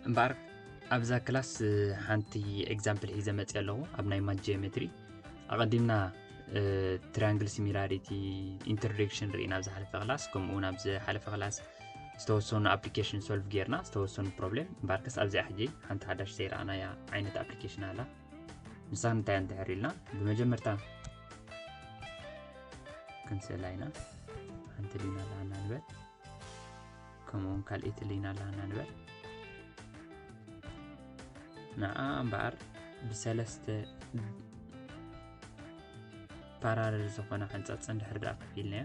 እምበኣር ኣብዛ ክላስ ሓንቲ ኤግዛምፕል ሒዘ መፅ ኣለኹ ኣብ ናይ ማት ጂኦሜትሪ ኣቐዲምና ትራንግል ሲሚላሪቲ ኢንትሮዳክሽን ርኢና ኣብ ዝሓለፈ ክላስ ከምኡውን ኣብ ዝሓለፈ ክላስ ዝተወሰኑ ኣፕሊኬሽን ሶልቭ ጌርና ዝተወሰኑ ፕሮብሌም እምበኣርከስ ኣብዚኣ ሕጂ ሓንቲ ሓዳሽ ዘይረኣናያ ዓይነት ኣፕሊኬሽን ኣላ ንሳ እንታይ እንትሕር ኢልና ብመጀመርታ ክንስእላ ኢና ሓንቲ ሊና ኣለሃና ንበል ከምኡውን ካልእቲ ሊና ኣለሃና ንበል ንኣ እምበኣር ብሰለስተ ፓራረል ዝኾነ ሓንፃፅ እንድሕር ድኣ ከፊልናያ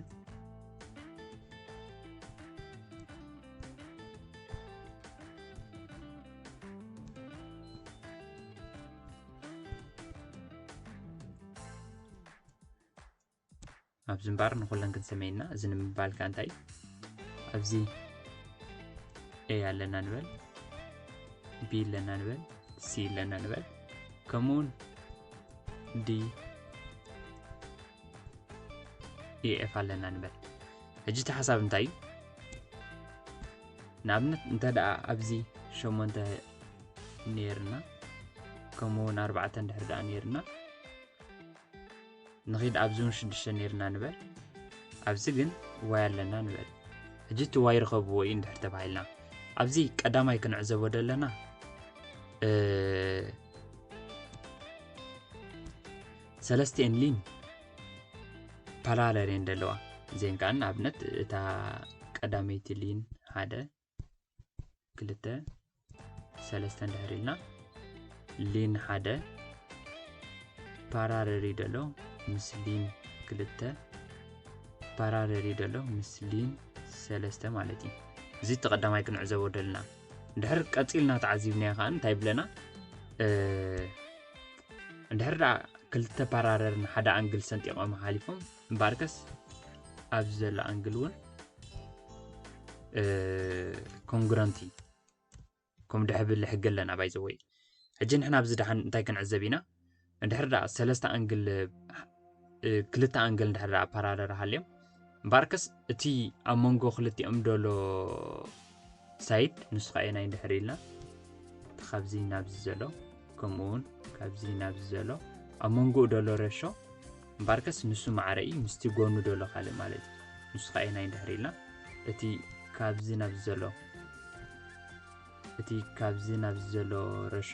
ኣብዚ እምበር ንኩለን ክንሰመየና እዚ ንምባልካ እንታይ ኣብዚ ኤ ኣለና ንበል ቢ ኣለና ንበል ሲ ኣለና ንበል ከምኡውን ዲ ኤኤፍ ኣለና ንበል ሕጂ እቲ ሓሳብ እንታይ እዩ ንኣብነት እንተ ደኣ ኣብዚ ሸሞንተ ነይርና ከምኡ እውን ኣርባዕተ እንድሕር ደኣ ነይርና ንኺድ ኣብዚ እውን ሽዱሽተ ነይርና ንበል ኣብዚ ግን ዋይ ኣለና ንበል ሕጂ እቲ ዋይ ርኸብዎ እዩ እንድሕር ተባሂልና ኣብዚ ቀዳማይ ክንዕዘቦ ዘለና ሰለስቲኤን ሊን ፓራለል እየን ዘለዋ እዚአን ከዓ ንኣብነት እታ ቀዳመይቲ ሊን ሓደ ክልተ ሰለስተ እንድሕር ኢልና ሊን ሓደ ፓራለል እዩ ዘሎ ምስ ሊን ክልተ ፓራለል እዩ ዘሎ ምስ ሊን ሰለስተ ማለት እዩ እዚ እቲ ቀዳማይ ክንዕዘቦ ደልና ድሕር ቀፂልና ተዓዚብናዮ ከዓ እንታይ ብለና እንድሕር ደኣ ክልተ ፓራረር ንሓደ ኣንግል ሰንጢቆም ሓሊፎም እምበኣርከስ ኣብዚ ዘሎ ኣንግል እውን ኮንግረንቲ ከም ድሕብል ሕጊ ኣለና ባይዘወይ ሕጂ ንሕና ኣብዚ ድሓን እንታይ ክንዕዘብ ኢና እንድሕር ደኣ ሰለስተ ኣንግል ክልተ ኣንግል እንድሕር ደኣ ፓራለል ሃልዮም እምበኣርከስ እቲ ኣብ መንጎ ክልቲኦም ደሎ ሳይድ ንሱ ከኣ ናይ እንድሕር ኢልና እቲ ካብዚ ናብዚ ዘሎ ከምኡ እውን ካብዚ ናብዚ ዘሎ ኣብ መንጎኡ ደሎ ረሾ እምበኣርከስ ንሱ ማዕረ እዩ ምስቲ ጎኑ ደሎ ካልእ ማለት እዩ ንሱ ከኣ ናይ እንድሕር ኢልና እቲ ካብዚ ናብዚ ዘሎ እቲ ካብዚ ናብዚ ዘሎ ረሾ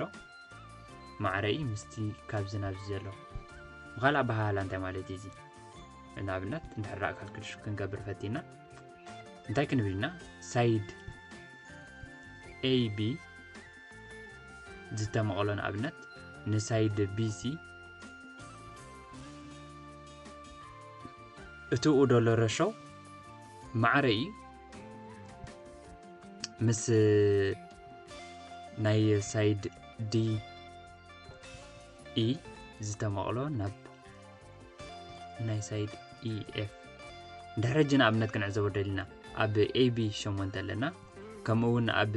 ማዕረ እዩ ምስቲ ካብዚ ናብዚ ዘሎ ብካልእ ኣበሃህላ እንታይ ማለት እዩ እዚ ንኣብነት እንድሕር ደኣ ካልክልሽ ክንገብር ፈቲና እንታይ ክንብል ኢና ሳይድ ኤቢ ዝተመቕሎ ንኣብነት ንሳይድ ቢሲ እትኡ ደሎ ረሾ ማዕረ እዩ ምስ ናይ ሳይድ ዲ ኢ ዝተመቕሎ ናብ ናይ ሳይድ ኢኤፍ ድሕሪ ሕጂ ንኣብነት ክንዕዘቦ ደሊና ኣብ ኤቢ ሸሞንተ ኣለና ከምኡ እውን ኣብ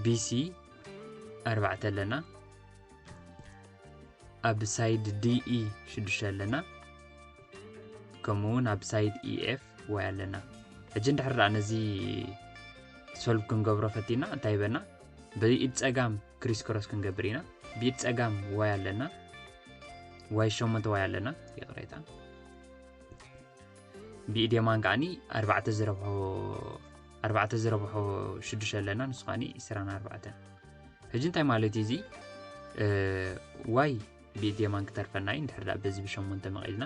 ቢሲ ኣርባዕተ ኣለና ኣብ ሳይድ ዲኢ ሽዱሽተ ኣለና ከምኡ እውን ኣብ ሳይድ ኢኤፍ ዋይ ኣለና ሕጂ እንድሕር ደኣ ነዚ ሶልቭ ክንገብሮ ፈቲና እንታይ በና ብኢድ ጸጋም ክሪስ ክሮስ ክንገብር ኢና ብኢድ ጸጋም ዋይ ኣለና ዋይ ሸሞንተ ዋይ ኣለና ይቕሬታ ብኢድ የማን ከዓኒ ኣርባዕተ ዝረብሖ ኣርባዕተ ዝረብሖ ሽዱሽተ ኣለና ንሱ ከዓኒ ዕስራን ኣርባዕተን ሕጂ እንታይ ማለት እዩ እዚ ዋይ ብኢድ የማን ክተርፈና እዩ እንድሕር ደኣ በዚ ብሸሞንተ መቒልና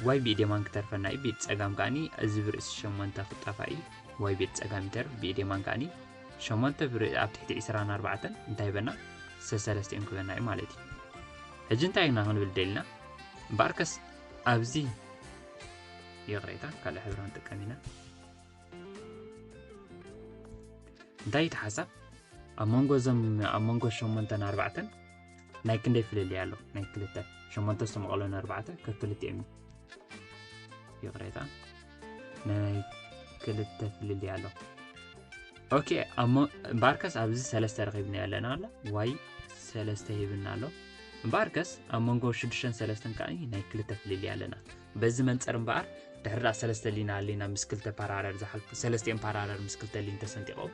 ዋይ ብኢድ የማን ክተርፈና እዩ ብኢድ ጸጋም ከኣኒ እዚ ብርእሲ ሸሞንተ ክጣፋእ እዩ ዋይ ብኢድ ጸጋም ይተርፍ ብኢድ የማን ከኣኒ ሸሞንተ ብር ኣብ ትሕቲ ዒስራን ኣርባዕተን እንታይ በና ሰሰለስቲኦም ክበና እዩ ማለት እዩ ሕጂ እንታይ ኢና ክንብል ደልና እምበኣርከስ ኣብዚ ይቕሬታ ካልእ ሕብሪ ክንጥቀም ኢና እንታይ እቲ ሓሳብ ኣብ መንጎ እዞም ኣብ መንጎ ሸሞንተን ኣርባዕተን ናይ ክንደይ ፍልልይ ኣሎ ናይ ክልተ ሸሞንተ ዝተመቐሎ ንኣርባዕተ ከክልቲኦም እዩ ይቕሬታ ናይ ክልተ ፍልልይ ኣሎ ኦኬ እሞ እምበኣርከስ ኣብዚ ሰለስተ ረኺብና ኣለና ኣሎ ዋይ ሰለስተ ሂብና ኣሎ እምበኣርከስ ኣብ መንጎ ሽዱሽተን ሰለስተን ከዓ ናይ ክልተ ፍልልይ ኣለና በዚ መንፅር እምበኣር ድሕሪ ሰለስተ ሊና ኣሊና ምስ ክልተ ፓራረር ዝሓልፉ ሰለስቲኦም ፓራረር ምስ ክልተ ሊን ተሰንጢቖም